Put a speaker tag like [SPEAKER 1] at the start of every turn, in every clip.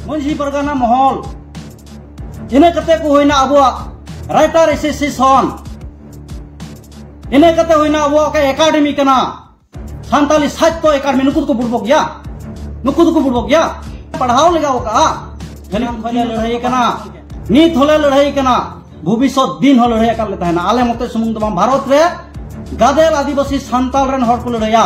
[SPEAKER 1] ᱢᱟᱹᱡᱷᱤ ᱯᱟᱨᱜᱟᱱᱟ ᱢᱚᱦᱚᱞ ᱤᱱᱟᱹ ᱠᱟᱛᱮ ᱠᱚ ᱦᱩᱭᱱᱟ ᱟᱵᱚᱣᱟᱜ ᱨᱟᱭᱴᱟᱨ ᱮᱥᱳᱥᱤᱭᱮᱥᱚᱱ ᱤᱱᱟᱹ ᱠᱟᱛᱮ ᱦᱩᱭᱱᱟ ᱟᱵᱚᱣᱟᱜ ᱚᱠᱟ ᱮᱠᱟᱰᱮᱢᱤ ᱠᱟᱱᱟ ᱥᱟᱱᱛᱟᱞᱤ ᱥᱟᱦᱤᱛᱭᱚ ᱮᱠᱟᱰᱮᱢᱤ ᱱᱩᱠᱩ ᱫᱚᱠᱚ ᱵᱩᱲᱵᱚᱜ ᱜᱮᱭᱟ ᱱᱩᱠᱩ ᱫᱚᱠᱚ ᱵᱩᱲᱵᱚᱜ ᱜᱮᱭᱟ ᱯᱟᱲᱦᱟᱣ ᱞᱮᱜᱟᱣ ᱠᱟᱜᱼᱟ ᱡᱟᱹᱱᱤᱡ ᱠᱷᱚᱱ ᱞᱮ ᱞᱟᱹᱲᱦᱟᱹᱭ ᱠᱟᱱᱟ ᱱᱤᱛ ᱦᱚᱸᱞᱮ ᱞᱟᱹᱲᱦᱟᱹᱭ ᱠᱟᱱᱟ ᱵᱷᱚᱵᱤᱥᱚᱛ ᱫᱤᱱ ᱦᱚᱸ ᱞᱟᱹᱲᱦᱟᱹᱭ ᱟᱠᱟᱫ ᱞᱮ ᱛᱟᱦᱮᱱᱟ ᱟᱞᱮ ᱢᱚᱛᱚ ᱥᱩᱢᱩᱝ ᱫᱚ ᱵᱟᱝ ᱵᱷᱟᱨᱚᱛ ᱨᱮ ᱜᱟᱫᱮᱞ ᱟᱹᱫᱤᱵᱟᱹᱥᱤ ᱥᱟᱱᱛᱟᱞ ᱨᱮᱱ ᱦᱚᱲ ᱠᱚ ᱞᱟᱹᱲᱦᱟᱹᱭᱟ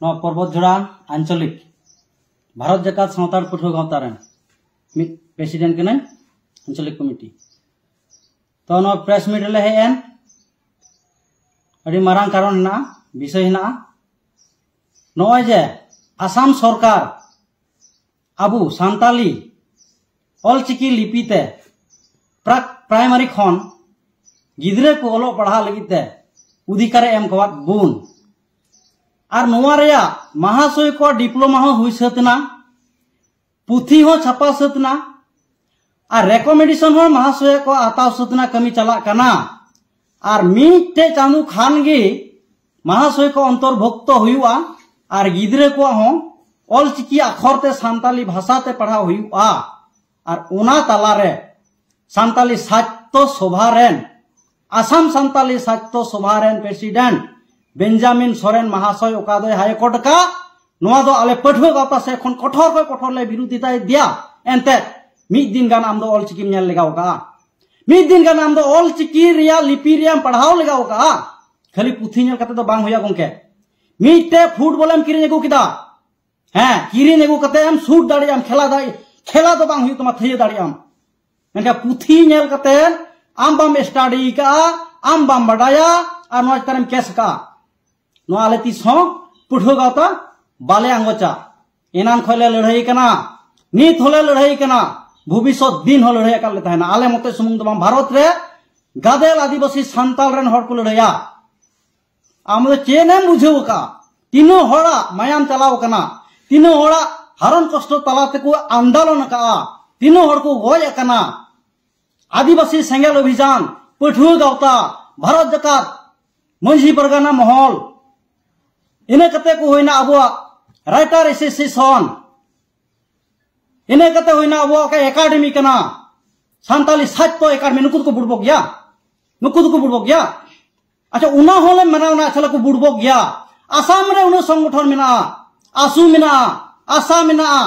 [SPEAKER 1] ᱱᱚᱣᱟ ᱯᱚᱨᱵᱚᱛ ᱡᱷᱚᱲᱟ ᱟᱧᱪᱚᱞᱤᱠ ᱵᱷᱟᱨᱚᱛ ᱡᱟᱠᱟᱛ ᱥᱟᱱᱛᱟᱲ ᱯᱟᱹᱴᱷᱩᱣᱟᱹ ᱜᱟᱶᱛᱟ ᱨᱮᱱ ᱢᱤᱫ ᱯᱨᱮᱥᱤᱰᱮᱱᱴ ᱠᱟᱹᱱᱟᱹᱧ ᱟᱧᱪᱚᱞᱤᱠ ᱠᱚᱢᱤᱴᱤ ᱛᱚ ᱱᱚᱣᱟ ᱯᱨᱮᱥ ᱢᱤᱴ ᱨᱮᱞᱮ ᱦᱮᱡ ᱮᱱ ᱟᱹᱰᱤ ᱢᱟᱨᱟᱝ ᱠᱟᱨᱚᱱ ᱦᱮᱱᱟᱜᱼᱟ ᱵᱤᱥᱚᱭ ᱦᱮᱱᱟᱜᱼᱟ ᱱᱚᱜᱼᱚᱭ ᱡᱮ ᱟᱥᱟᱢ ᱥᱚᱨᱠᱟᱨ ᱟᱵᱚ ᱥᱟᱱᱛᱟᱞᱤ ᱚᱞᱪᱤᱠᱤ ᱞᱤᱯᱤ ᱛᱮ ᱯᱨᱟᱠ ᱯᱨᱟᱭᱢᱟᱨᱤ ᱠᱷᱚᱱ ᱜᱤᱫᱽᱨᱟᱹ ᱠᱚ ᱚᱞᱚᱜ ᱯᱟᱲᱦᱟᱜ ᱞᱟᱹᱜᱤᱫ ᱛᱮ ᱚᱫᱷᱤᱠᱟᱨᱮ ᱮᱢ ᱠᱟᱣᱟᱫ ᱵᱚᱱ ᱟᱨ ᱱᱚᱣᱟ ᱨᱮᱭᱟᱜ ᱢᱟᱦᱟᱥᱚᱭ ᱠᱚ ᱰᱤᱯᱞᱳᱢᱟ ᱦᱚᱸ ᱦᱩᱭ ᱥᱟᱹᱛ ᱮᱱᱟ ᱯᱩᱛᱷᱤ ᱦᱚᱸ ᱪᱷᱟᱯᱟ ᱥᱟᱹᱛ ᱮᱱᱟ ᱟᱨ ᱨᱮᱠᱚᱢᱮᱱᱰᱮᱥᱚᱱ ᱦᱚᱸ ᱢᱟᱦᱟᱥᱚᱭ ᱠᱚ ᱦᱟᱛᱟᱣ ᱥᱩᱫᱱᱟ ᱠᱟᱹᱢᱤ ᱪᱟᱞᱟᱜ ᱠᱟᱱᱟ ᱟᱨ ᱢᱤᱫᱴᱮ ᱪᱟᱸᱫᱚ ᱠᱷᱟᱱ ᱜᱮ ᱢᱟᱦᱟᱥᱚᱭ ᱠᱚ ᱚᱱᱛᱚᱨᱵᱷᱩᱠᱛᱚ ᱦᱩᱭᱩᱜᱼᱟ ᱟᱨ ᱜᱤᱫᱽᱨᱟᱹ ᱠᱚ ᱦᱚᱸ ᱚᱞ ᱪᱤᱠᱤ ᱟᱠᱷᱚᱨ ᱛᱮ ᱥᱟᱱᱛᱟᱞᱤ ᱵᱷᱟᱥᱟ ᱛᱮ ᱯᱟᱲᱦᱟᱣ ᱦᱩᱭᱩᱜᱼᱟ ᱟᱨ ᱚᱱᱟ ᱛᱟᱞᱟᱨᱮ ᱥᱟᱱᱛᱟᱞᱤ ᱥᱟᱡᱽ ᱥᱟᱦᱤᱛᱛᱚ ᱥᱚᱵᱷᱟ ᱨᱮᱱ ᱟᱥᱟᱢ ᱥᱟᱱᱛᱟᱞᱤ ᱥᱟᱦᱤᱛᱭᱚ ᱥᱚᱵᱷᱟ ᱨᱮᱱ ᱯᱨᱮᱥᱤᱰᱮᱱᱴ ᱵᱮᱧᱡᱟᱢᱤᱱ ᱥᱚᱨᱮᱱ ᱢᱟᱦᱟᱥᱚᱭ ᱚᱠᱟ ᱫᱚᱭ ᱦᱟᱭ ᱠᱳᱨᱴ ᱟᱠᱟᱫ ᱱᱚᱣᱟ ᱫᱚ ᱟᱞᱮ ᱯᱟᱹᱴᱷᱩᱣᱟᱹ ᱜᱟᱶᱛᱟ ᱥᱮᱫ ᱠᱷᱚᱱ ᱠᱚᱴᱷᱚᱨ ᱠᱷᱚᱱ ᱠᱚᱴᱷᱚᱨ ᱞᱮ ᱵᱤᱨᱳᱫᱷᱤᱛᱟ ᱤᱫᱤᱭᱟ ᱮᱱᱛᱮ ᱢᱤᱫ ᱫᱤᱱ ᱜᱟᱱ ᱟᱢ ᱫᱚ ᱚᱞ ᱪᱤᱠᱤᱢ ᱧᱮᱞ ᱞᱮᱜᱟᱣ ᱟᱠᱟᱫᱼᱟ ᱢᱤᱫ ᱫᱤᱱ ᱜᱟᱱ ᱟᱢ ᱫᱚ ᱚᱞ ᱪᱤᱠᱤ ᱨᱮᱭᱟᱜ ᱞᱤᱯᱤ ᱨᱮᱭᱟᱜ ᱮᱢ ᱯᱟᱲᱦᱟᱣ ᱞᱮᱜᱟᱣ ᱟᱠᱟᱫᱼᱟ ᱠᱷᱟᱹᱞᱤ ᱯᱩᱛᱷᱤ ᱧᱮᱞ ᱠᱟᱛᱮ ᱫᱚ ᱵᱟᱝ ᱦᱩᱭᱩᱜᱼᱟ ᱜᱚᱢᱠᱮ ᱢᱤᱫᱴᱮᱡ ᱯᱷᱩᱴᱵᱚᱞ ᱮᱢ ᱠᱤᱨᱤᱧ ᱟᱹᱜᱩ ᱠᱮᱫᱟ ᱦᱮᱸ ᱠᱤᱨᱤᱧ ᱟᱹᱜᱩ ᱠᱟᱛᱮ ᱮᱢ ᱥᱩᱴ ᱫᱟᱲᱮᱭᱟᱜᱼᱟᱢ ᱠᱷᱮᱞᱟ ᱫᱟᱲᱮ ᱠᱷᱮᱞᱟ ᱫᱚ ᱵᱟᱝ ᱦᱩᱭᱩᱜ ᱛᱟᱢᱟ ᱛᱷᱟᱹᱭᱟᱹ ᱫᱟᱲᱮᱭᱟᱜᱼᱟᱢ ᱢᱮᱱᱠᱷᱟᱱ ᱯᱩᱛᱷᱤ ᱧᱮᱞ ᱠᱟᱛᱮ ᱟᱢ ᱵᱟᱢ ᱥᱴᱟᱰᱤ ᱠᱟᱜᱼᱟ ᱟᱢ ᱵᱟᱢ ᱵᱟᱰᱟᱭᱟ ᱟᱨ ᱱᱚᱣᱟ ᱪᱮᱛᱟᱱᱮᱢ ᱠᱮᱥ ᱠᱟᱜᱼᱟ ᱱᱚᱣᱟ ᱟᱞᱮ ᱛᱤᱥ ᱦᱚᱸ ᱯᱟᱹᱴᱷᱩᱣᱟᱹ ᱜᱟᱶᱛᱟ ᱵᱟᱞᱮ ᱟᱸᱜᱚᱪᱟ ᱮᱱᱟᱱ ᱠᱷᱚᱱ ᱞᱮ ᱞᱟᱹᱲᱦᱟᱹᱭ ᱠᱟᱱᱟ ᱱᱤᱛ ᱦᱚᱸᱞᱮ ᱞᱟᱹᱲᱦᱟᱹᱭ ᱠᱟᱱᱟ ᱵᱷᱚᱵᱤᱥᱚᱛ ᱫᱤᱱ ᱦᱚᱸ ᱞᱟᱹᱲᱦᱟᱹᱭ ᱟᱠᱟᱫ ᱞᱮ ᱛᱟᱦᱮᱱᱟ ᱟᱞᱮ ᱢᱚᱛᱚ ᱥᱩᱢᱩᱝ ᱫᱚ ᱵᱟᱝ ᱵᱷᱟᱨᱚᱛ ᱨᱮ ᱜᱟᱫᱮᱞ ᱟᱹᱫᱤᱵᱟᱹᱥᱤ ᱥᱟᱱᱛᱟᱲ ᱨᱮᱱ ᱦᱚᱲ ᱠᱚ ᱞᱟᱹᱲᱦᱟᱹᱭᱟ ᱟᱢ ᱫᱚ ᱪᱮᱫ ᱮᱢ ᱵᱩᱡᱷᱟᱹᱣ ᱟᱠᱟᱫᱼᱟ ᱛᱤᱱᱟᱹᱜ ᱦᱚᱲᱟᱜ ᱢᱟᱭᱟᱢ ᱪᱟᱞᱟᱣ ᱟᱠᱟᱱᱟ ᱛᱤᱱᱟᱹᱜ ᱦᱚᱲᱟᱜ ᱦᱟᱨᱚᱱ ᱠᱚᱥᱴᱚ ᱛᱟᱞᱟ ᱛᱮᱠᱚ ᱟᱱᱫᱳᱞᱚᱱ ᱟᱠᱟᱫᱼᱟ ᱛᱤᱱᱟᱹᱜ ᱦᱚᱲ ᱠᱚ ᱜᱚᱡ ᱟᱠᱟᱱᱟ ᱟᱹᱫᱤᱵᱟᱹᱥᱤ ᱥᱮᱸᱜᱮᱞ ᱚᱵᱷᱤᱡᱟᱱ ᱯᱟᱹᱴᱷᱩᱣᱟᱹ ᱜᱟᱶᱛᱟ ᱵᱷᱟᱨᱚᱛ ᱡᱟᱠᱟᱛ ᱢᱟᱹᱡᱷᱤ ᱯᱟᱨᱜᱟᱱᱟ ᱢᱚᱦᱚᱞ ᱤᱱᱟᱹ ᱠᱟᱛᱮ ᱠᱚ ᱦᱩᱭᱱᱟ ᱟᱵᱚᱣᱟᱜ ᱨᱟᱭᱴᱟᱨ ᱮᱥᱳᱥᱤᱭᱮᱥᱚᱱ ᱤᱱᱟᱹ ᱠᱟᱛᱮ ᱦᱩᱭᱱᱟ ᱟᱵᱚᱣᱟᱜ ᱚᱠᱟ ᱮᱠᱟᱰᱮᱢᱤ ᱠᱟᱱᱟ ᱥᱟᱱᱛᱟᱞᱤ ᱥᱟᱡᱽᱛᱚ ᱮᱠᱟᱰᱮᱢᱤ ᱱᱩᱠᱩ ᱫᱚᱠᱚ ᱵᱩᱲᱵᱚᱜ ᱜᱮᱭᱟ ᱱᱩᱠᱩ ᱫᱚᱠᱚ ᱵᱩᱲᱵᱚᱜ ᱜᱮᱭᱟ ᱟᱪᱪᱷᱟ ᱚᱱᱟ ᱦᱚᱸᱞᱮ ᱢᱮᱱᱟ ᱚᱱᱟ ᱟᱪᱪᱷᱟ ᱞᱮᱠᱚ ᱵᱩᱲᱵᱚᱠ ᱜᱮᱭᱟ ᱟᱥᱟᱢ ᱨᱮ ᱩᱱᱟᱹᱜ ᱥᱚᱝᱜᱚᱴᱷᱚᱱ ᱢᱮᱱᱟᱜᱼᱟ ᱟᱥᱩ ᱢᱮᱱᱟᱜᱼᱟ ᱟᱥᱟ ᱢᱮᱱᱟᱜᱼᱟ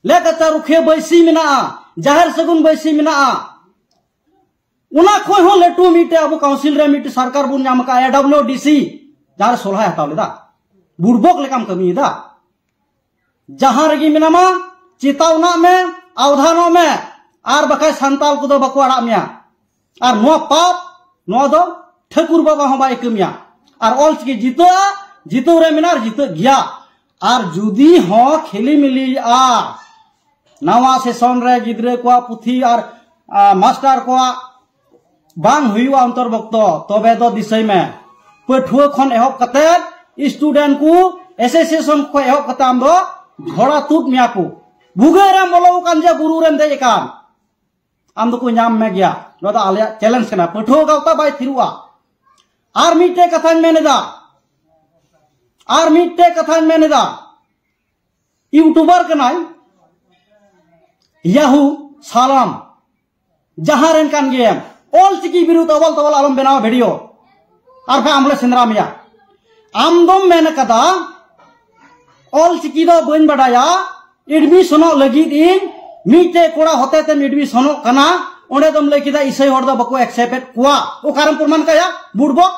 [SPEAKER 1] ᱞᱮᱠᱟᱪᱟ ᱨᱩᱠᱷᱤᱭᱟᱹ ᱵᱟᱹᱭᱥᱤ ᱢᱮᱱᱟᱜᱼᱟ ᱡᱟᱦᱮᱨ ᱥᱟᱹᱜᱩᱱ ᱵᱟᱹᱭᱥᱤ ᱢᱮᱱᱟᱜᱼᱟ ᱚᱱᱟ ᱠᱷᱚᱱ ᱦᱚᱸ ᱞᱟᱹᱴᱩ ᱢᱤᱫᱴᱮᱡ ᱟᱵᱚ ᱠᱟᱣᱩᱱᱥᱤᱞ ᱨᱮ ᱢᱤᱫᱴᱮᱡ ᱥᱚᱨᱠᱟᱨ ᱵᱚᱱ ᱧᱟᱢ ᱟᱠᱟᱫᱼᱟ ᱮᱰᱟᱵᱞᱤᱭᱩ ᱰᱤᱥᱤ ᱡᱟᱦᱟᱸᱨᱮ ᱥᱚᱞᱦᱟᱭ ᱦᱟᱛᱟᱣ ᱞᱮᱫᱟ ᱵᱩᱲᱵᱚᱠ ᱞᱮᱠᱟᱢ ᱠᱟᱹᱢᱤᱭᱮᱫᱟ ᱡᱟᱦᱟᱸ ᱨᱮᱜᱮ ᱢᱮᱱᱟᱢᱟ ᱪᱮᱛᱟᱣᱱᱟᱜ ᱢᱮ ᱟᱣᱫᱷᱟᱱᱚᱜ ᱢᱮ ᱟᱨ ᱵᱟᱠᱷᱟᱡ ᱥᱟᱱᱛᱟᱞ ᱠᱚᱫᱚ ᱵᱟᱠᱚ ᱟᱲᱟᱜ ᱢᱮᱭᱟ ᱟᱨ ᱱᱚᱣᱟ ᱯᱟᱯ ᱱᱚᱣᱟ ᱫᱚ ᱴᱷᱟᱹᱠᱩᱨ ᱵᱟᱵᱟ ᱦᱚᱸ ᱵᱟᱭ ᱠᱟᱹᱢᱤᱭᱟ ᱟᱨ ᱚᱞ ᱪᱤᱠᱤ ᱡᱤᱛᱟᱹᱜᱼᱟ ᱡᱤᱛᱟᱹᱣ ᱨᱮ ᱢᱮᱱᱟᱜᱼᱟ ᱟᱨ ᱡᱤᱛᱟᱹᱜ ᱜᱮᱭᱟ ᱟᱨ ᱡᱩᱫᱤ ᱦᱚᱸ ᱠᱷᱮᱞᱤ ᱢᱤᱞᱤᱜᱼᱟ ᱱᱟᱣᱟ ᱥᱮᱥᱚᱱ ᱨᱮ ᱜᱤᱫᱽᱨᱟᱹ ᱠᱚᱣᱟᱜ ᱯᱩᱛᱷᱤ ᱟᱨ ᱢᱟᱥᱴᱟᱨ ᱠᱚᱣᱟᱜ ᱵᱟᱝ ᱦᱩᱭᱩᱜᱼᱟ ᱚᱱᱛᱚᱨᱵᱷᱩᱠᱛᱚ ᱛᱚᱵᱮ ᱫᱚ ᱫᱤᱥᱟᱹᱭ ᱢᱮ ᱯᱟᱹᱴᱷᱩᱣᱟᱹ ᱠᱷᱚᱱ ᱮᱦᱚᱵ ᱠᱟᱛᱮ ᱥᱴᱩᱰᱮᱱᱴ ᱠᱚ ᱮᱥᱳᱥᱤᱭᱮᱥᱚᱱ ᱠᱷᱚᱱ ᱮᱦᱚᱵ ᱠᱟᱛᱮ ᱟᱢ ᱫᱚ ᱡᱷᱚᱲᱟ ᱛᱩᱫ ᱢᱮᱭᱟ ᱠᱚ ᱵᱷᱩᱜᱟᱹᱜ ᱨᱮᱢ ᱵᱚᱞᱚ ᱟᱠᱟᱱ ᱡᱮ ᱵᱩᱨᱩ ᱨᱮᱢ ᱫᱮᱡ ᱟᱠᱟᱱ ᱟᱢ ᱫᱚᱠᱚ ᱧᱟᱢ ᱢᱮ ᱜᱮᱭᱟ ᱱᱚᱣᱟ ᱫᱚ ᱟᱞᱮᱭᱟᱜ ᱪᱮᱞᱮᱧᱡᱽ ᱠᱟᱱᱟ ᱯᱟᱹᱴᱷᱩᱣᱟᱹ ᱜᱟᱶᱛᱟ ᱵᱟᱭ ᱛᱷᱤᱨᱩᱜᱼᱟ ᱟᱨ ᱢᱤᱫᱴᱮᱡ ᱠᱟᱛᱷᱟᱧ ᱢᱮᱱᱮᱫᱟ ᱟᱨ ᱢᱤᱫᱴᱮᱡ ᱠᱟᱛᱷᱟᱧ ᱢᱮᱱᱮᱫᱟ ᱤᱭᱩᱴᱩᱵᱟᱨ ᱠᱟᱱᱟᱭ ᱭᱟᱦᱩ ᱥᱟᱞᱟᱢ ᱡᱟᱦᱟᱸ ᱨᱮᱱ ᱠᱟᱱ ᱜᱮᱭᱟᱢ ᱚᱞ ᱪᱤᱠᱤ ᱵᱤᱨᱩᱫᱽ ᱚᱵᱚᱞ ᱛᱚᱵᱚᱞ ᱟᱞᱚᱢ ᱵᱮᱱᱟᱣᱟ ᱵᱷᱤᱰᱤᱭᱳ ᱟᱨ ᱵᱟᱝ ᱟᱢᱞᱮ ᱥᱮᱸᱫᱽᱨᱟ ᱢᱮᱭᱟ ᱟᱢ ᱫᱚᱢ ᱢᱮᱱ ᱟᱠᱟᱫᱟ ᱚᱞ ᱪᱤᱠᱤ ᱫᱚ ᱵᱟᱹᱧ ᱵᱟᱰᱟᱭᱟ ᱮᱰᱢᱤᱥᱚᱱᱚᱜ ᱞᱟᱹᱜᱤᱫ ᱤᱧ ᱢᱤᱫᱴᱮᱡ ᱠᱚᱲᱟ ᱦᱚᱛᱮ ᱛᱮᱢ ᱮᱰᱢᱤᱥᱚᱱᱚᱜ ᱠᱟᱱᱟ ᱚᱸᱰᱮ ᱫᱚᱢ ᱞᱟᱹᱭ ᱠᱮᱫᱟ ᱤᱥᱟᱹᱭ ᱦᱚᱲ ᱫᱚ ᱵᱟᱠᱚ ᱮᱠᱥᱮᱯᱴ ᱮᱫ ᱠᱚᱣᱟ ᱚᱠᱟᱨᱮᱢ ᱯᱨᱚᱢᱟᱱ ᱠᱟᱭᱟ ᱵᱩᱰᱵᱚᱠ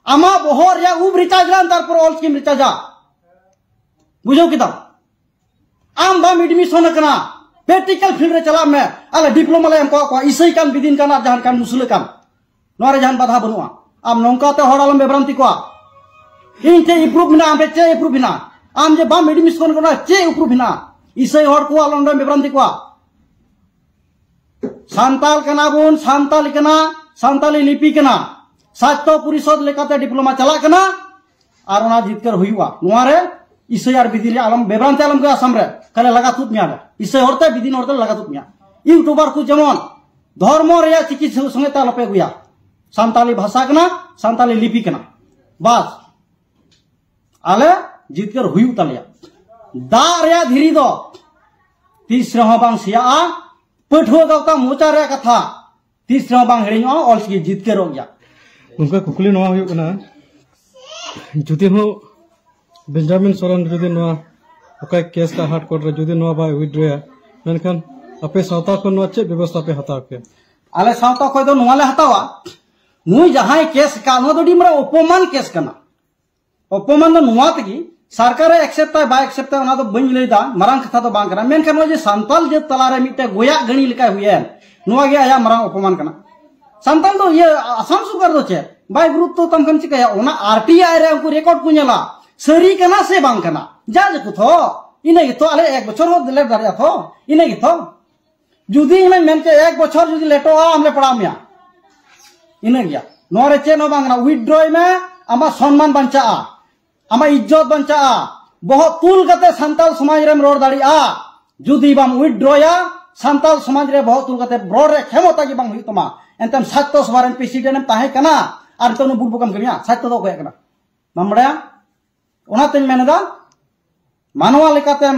[SPEAKER 1] ᱟᱢᱟᱜ ᱵᱚᱦᱚᱜ ᱨᱮᱭᱟᱜ ᱩᱵ ᱨᱤᱪᱟᱨᱡᱽ ᱞᱟᱢ ᱛᱟᱨᱯᱚᱨ ᱚᱞ ᱪᱤᱠᱤᱢ ᱨᱤᱪᱟᱨᱡᱟ ᱵᱩᱡᱷᱟᱹᱣ ᱠᱮᱫᱟᱢ ᱟᱢ ᱵᱟᱢ ᱮᱰᱢᱤᱥᱚᱱ ᱟᱠᱟᱱᱟ ᱯᱨᱮᱠᱴᱤᱠᱟᱞ ᱯᱷᱤᱞᱰ ᱨᱮ ᱪᱟᱞᱟᱜ ᱢᱮ ᱟᱞᱮ ᱰᱤᱯᱞᱳᱢᱟ ᱞᱮ ᱮᱢ ᱠᱚᱣᱟ ᱠᱚᱣᱟ ᱤᱥᱟᱹᱭ ᱠᱟᱱ ᱵᱤᱫᱤᱱ ᱠᱟᱱ ᱟᱨ ᱡᱟᱦᱟᱱ ᱠᱟᱱ ᱢᱩᱥᱞᱟᱹ ᱠᱟᱱ ᱱᱚᱣᱟ ᱨᱮ ᱡᱟᱦᱟᱱ ᱵᱟᱫᱷᱟ ᱵᱟᱹᱱᱩᱜᱼᱟ ᱟᱢ ᱱᱚᱝᱠᱟ ᱛᱮ ᱦᱚᱲ ᱟᱞᱚᱢ ᱵᱮᱵᱨᱟᱱᱛᱤ ᱠᱚᱣᱟ ᱤᱧ ᱪᱮᱫ ᱤᱯᱨᱩᱵᱽ ᱢᱮᱱᱟᱜᱼᱟ ᱟᱢ ᱴᱷᱮᱱ ᱪᱮᱫ ᱤᱯᱨᱩᱵᱽ ᱢᱮᱱᱟᱜᱼᱟ ᱟᱢ ᱡᱮ ᱵᱟᱢ ᱮᱰᱢᱤᱥᱚᱱ ᱠᱟᱱᱟ ᱪᱮᱫ ᱤᱯᱨᱩᱵᱽ ᱢᱮᱱᱟᱜᱼᱟ ᱤᱥᱟᱹᱭ ᱦᱚᱲ ᱠᱚ ᱟᱞᱚᱢ ᱵᱮᱵᱨᱟᱱᱛᱤ ᱠᱚᱣᱟ ᱥᱟᱱᱛᱟᱞ ᱠᱟᱱᱟ ᱵᱚᱱ ᱥᱟᱱᱛᱟᱞ ᱠᱟᱱᱟ ᱥᱟᱱᱛᱟᱞᱤ ᱞᱤᱯᱤ ᱠᱟᱱᱟ ᱥᱟᱪᱛᱚ ᱯᱚᱨᱤᱥᱚᱫ ᱞᱮᱠᱟᱛᱮ ᱰᱤᱯᱞᱳᱢᱟ ᱪᱟᱞᱟᱜ ᱠᱟᱱᱟ ᱟᱨ ᱚᱱᱟ ᱡᱤᱛᱠᱟᱹᱨ ᱦᱩᱭᱩᱜᱼᱟ ᱱᱚᱣᱟ ᱨᱮ ᱤᱥᱟᱹᱭ ᱟᱨ ᱵᱤᱫᱤᱱ ᱟᱞᱚᱢ ᱵᱮᱵᱨᱟᱱᱛᱮ ᱟᱞᱚᱢ ᱜᱮ ᱟᱥᱟᱢ ᱨᱮ ᱠᱟᱞᱮ ᱞᱟᱜᱟ ᱛᱩᱫ ᱢᱮᱭᱟ ᱞᱮ ᱤᱥᱟᱹᱭ ᱦᱚᱲᱛᱮ ᱵᱤᱫᱤᱱ ᱦᱚᱲᱛᱮ ᱞᱟᱜᱟ ᱛᱩᱫ ᱢᱮᱭᱟ ᱤᱭᱩᱴᱩᱵᱟᱨ ᱠᱚ ᱡᱮᱢᱚᱱ ᱫᱷᱚᱨᱢᱚ ᱨᱮᱭᱟᱜ ᱪᱤᱠᱤ ᱥᱚᱸᱜᱮ ᱛᱮ ᱟᱞᱚᱯᱮ ᱟᱹᱜᱩᱭᱟ ᱥᱟᱱᱛᱟᱞᱤ ᱵᱷᱟᱥᱟ ᱠᱟᱱᱟ ᱥᱟᱱᱛᱟᱞᱤ ᱞᱤᱯᱤ ᱠᱟᱱᱟ ᱵᱟᱥ ᱟᱞᱮ ᱡᱤᱛᱠᱟᱹᱨ ᱦᱩᱭᱩᱜ ᱛᱟᱞᱮᱭᱟ ᱫᱟᱜ ᱨᱮᱭᱟᱜ ᱫᱷᱤᱨᱤ ᱫᱚ ᱛᱤᱥ ᱨᱮᱦᱚᱸ ᱵᱟᱝ ᱥᱮᱭᱟᱜᱼᱟ ᱯᱟᱹᱴᱷᱩᱣᱟᱹ ᱜᱟᱶᱛᱟ ᱢᱚᱪᱟ ᱨᱮᱭᱟᱜ ᱠᱟᱛᱷᱟ ᱛᱤᱥ ᱨᱮᱦᱚᱸ ᱵᱟᱝ ᱦᱤᱲᱤᱧᱚᱜᱼᱟ ᱚᱞᱪᱤᱠᱤ ᱡᱤᱛᱠᱟᱹᱨᱚᱜ ᱜᱮᱭᱟ ᱩᱱᱠᱩ ᱠᱩᱠᱞᱤ
[SPEAKER 2] ᱱᱚᱣᱟ ᱦᱩᱭᱩᱜ ᱠᱟᱱᱟ ᱡᱩᱫᱤ ᱦᱚᱸ ᱵᱮᱧᱡᱟᱢᱤᱱ ᱥᱚᱨᱮᱱ ᱡᱩᱫᱤ ᱱᱚᱣᱟ ᱚᱠᱟ ᱠᱮᱥ ᱠᱟ ᱦᱟᱴ ᱠᱚᱨᱴ ᱨᱮ ᱡᱩᱫᱤ ᱱᱚᱣᱟ ᱵᱟᱭ ᱩᱭᱤᱰᱨᱚᱭᱟ ᱢᱮᱱᱠᱷᱟᱱ ᱟᱯᱮ ᱥᱟᱶᱛᱟ ᱠᱷᱚᱱ ᱱᱚᱣᱟ ᱪᱮᱫ ᱵᱮᱵᱚᱥᱛᱷᱟ ᱯᱮ ᱦᱟᱛᱟᱣ ᱠᱮᱭᱟ ᱟᱞᱮ ᱥᱟᱶᱛᱟ
[SPEAKER 1] ᱠᱷᱚᱱ ᱫᱚ ᱱᱚᱣᱟ ᱞᱮ ᱦᱟᱛᱟᱣᱟ ᱱᱩᱭ ᱡᱟᱦᱟᱸᱭ ᱠᱮᱥ ᱠᱟ ᱱᱚᱣᱟ ᱫᱚ ᱟᱹᱰᱤ ᱢᱟᱨᱟᱝ ᱚᱯᱚᱢᱟᱱ ᱠᱮᱥ ᱠᱟᱱᱟ ᱚᱯᱚᱢᱟᱱ ᱫᱚ ᱱᱚᱣᱟ ᱛᱮᱜᱮ ᱥᱚᱨᱠᱟᱨᱮ ᱮᱠᱥᱮᱯᱴᱟᱭ ᱵᱟᱭ ᱮᱠᱥᱮᱯᱴᱟᱭ ᱚᱱᱟ ᱫᱚ ᱵᱟᱹᱧ ᱞᱟᱹᱭᱫᱟ ᱢᱟᱨᱟᱝ ᱠᱟᱛᱷᱟ ᱫᱚ ᱵᱟᱝ ᱠᱟᱱᱟ ᱢᱮᱱᱠᱷᱟᱱ ᱱᱚᱜᱼᱚᱭ ᱡᱮ ᱥᱟᱱᱛᱟᱞ ᱡᱟᱹᱛ ᱛᱟᱞᱟᱨᱮ ᱢᱤᱫᱴᱮᱱ ᱜᱚᱭᱟᱜ ᱜᱟᱹᱲᱤ ᱞᱮᱠᱟᱭ ᱦᱩᱭᱮᱱ ᱱᱚᱣᱟ ᱜᱮ ᱟᱭᱟᱜ ᱢᱟᱨᱟᱝ ᱚᱯᱚᱢᱟᱱ ᱠᱟᱱᱟ ᱥᱟᱱᱛᱟᱞ ᱫᱚ ᱤᱭᱟᱹ ᱟᱥᱟᱢ ᱥᱚᱨᱠᱟᱨ ᱫᱚ ᱪᱮᱫ ᱵᱟᱭ ᱜᱩᱨᱩᱛᱛᱚ ᱛᱟᱢ ᱠᱷᱟᱱ ᱪᱤᱠᱟᱹᱭᱟ ᱚᱱᱟ ᱟᱨ ᱴᱤ ᱟᱭ ᱨᱮ ᱩᱱᱠᱩ ᱨᱮᱠᱚᱨᱰ ᱠᱚ ᱧᱮᱞᱟ ᱥᱟᱹᱨᱤ ᱠᱟᱱᱟ ᱥᱮ ᱵᱟᱝ ᱠᱟᱱᱟ ᱡᱟ ᱡᱮᱠᱚ ᱛᱷᱚ ᱤᱱᱟᱹ ᱜᱮᱛᱚ ᱟᱞᱮ ᱮᱠ ᱵᱚᱪᱷᱚᱨ ᱦᱚᱸ ᱞᱮᱴ ᱫᱟᱲᱮᱭᱟᱜᱼᱟ ᱛᱷᱚ ᱤᱱᱟᱹ ᱜᱮᱛᱚ ᱡᱩᱫᱤ ᱤᱧ ᱢᱮᱱ ᱠᱮ ᱮᱠ ᱵᱚᱪᱷᱚᱨ ᱡᱩᱫᱤ ᱞᱮᱴᱚᱜᱼᱟ ᱟᱢ ᱞᱮ ᱯᱟᱲᱟᱣ ᱢᱮᱭᱟ ᱤᱱᱟᱹ ᱜᱮᱭᱟ ᱱᱚᱣᱟ ᱨᱮ ᱪᱮᱫ ᱦᱚᱸ ᱵᱟᱝ ᱠᱟᱱᱟ ᱩᱭᱤᱰᱨᱚᱭ ᱢᱮ ᱟᱢᱟᱜ ᱥᱚᱱᱢᱟᱱ ᱵᱟᱧᱪᱟᱜᱼᱟ ᱟᱢᱟᱜ ᱤᱡᱽᱡᱚᱛ ᱵᱟᱧᱪᱟᱜᱼᱟ ᱵᱚᱦᱚᱜ ᱛᱩᱞ ᱠᱟᱛᱮ ᱥᱟᱱᱛᱟᱞ ᱥᱚᱢᱟᱡᱽ ᱨᱮᱢ ᱨᱚᱲ ᱫᱟᱲᱮᱭᱟᱜᱼᱟ ᱡᱩᱫᱤ ᱵᱟᱢ ᱩᱭᱤᱰᱨᱚᱭᱟ ᱥᱟᱱᱛᱟᱞ ᱥᱚᱢᱟᱡᱽ ᱨᱮ ᱵᱚᱦᱚᱜ ᱛᱩᱞ ᱠᱟᱛᱮ ᱨᱚᱲ ᱨᱮ ᱠᱷᱮᱢᱚᱛᱟ ᱜᱮ ᱵᱟᱝ ᱦᱩᱭᱩᱜ ᱛᱟᱢᱟ ᱮᱱᱛᱮᱢ ᱥᱟᱛᱛᱚ ᱥᱚᱵᱷᱟ ᱨᱮᱱ ᱯᱨᱮᱥᱤᱰᱮᱱᱴ ᱮᱢ ᱛᱟᱦᱮᱸ ᱠᱟᱱᱟ ᱟᱨ ᱱᱤᱛᱚᱜ ᱱᱩ ᱵᱩᱴ ᱵᱚᱠᱟᱢ ᱠᱟᱹᱢᱤᱭᱟ ᱥᱟᱛᱛᱚ ᱫᱚ ᱚᱠᱚᱭᱟᱜ ᱠᱟᱱᱟ ᱵᱟᱢ ᱵᱟᱲᱟᱭᱟ ᱚᱱᱟᱛᱮᱧ ᱢᱮᱱᱮᱫᱟ ᱢᱟᱱᱣᱟ ᱞᱮᱠᱟᱛᱮᱢ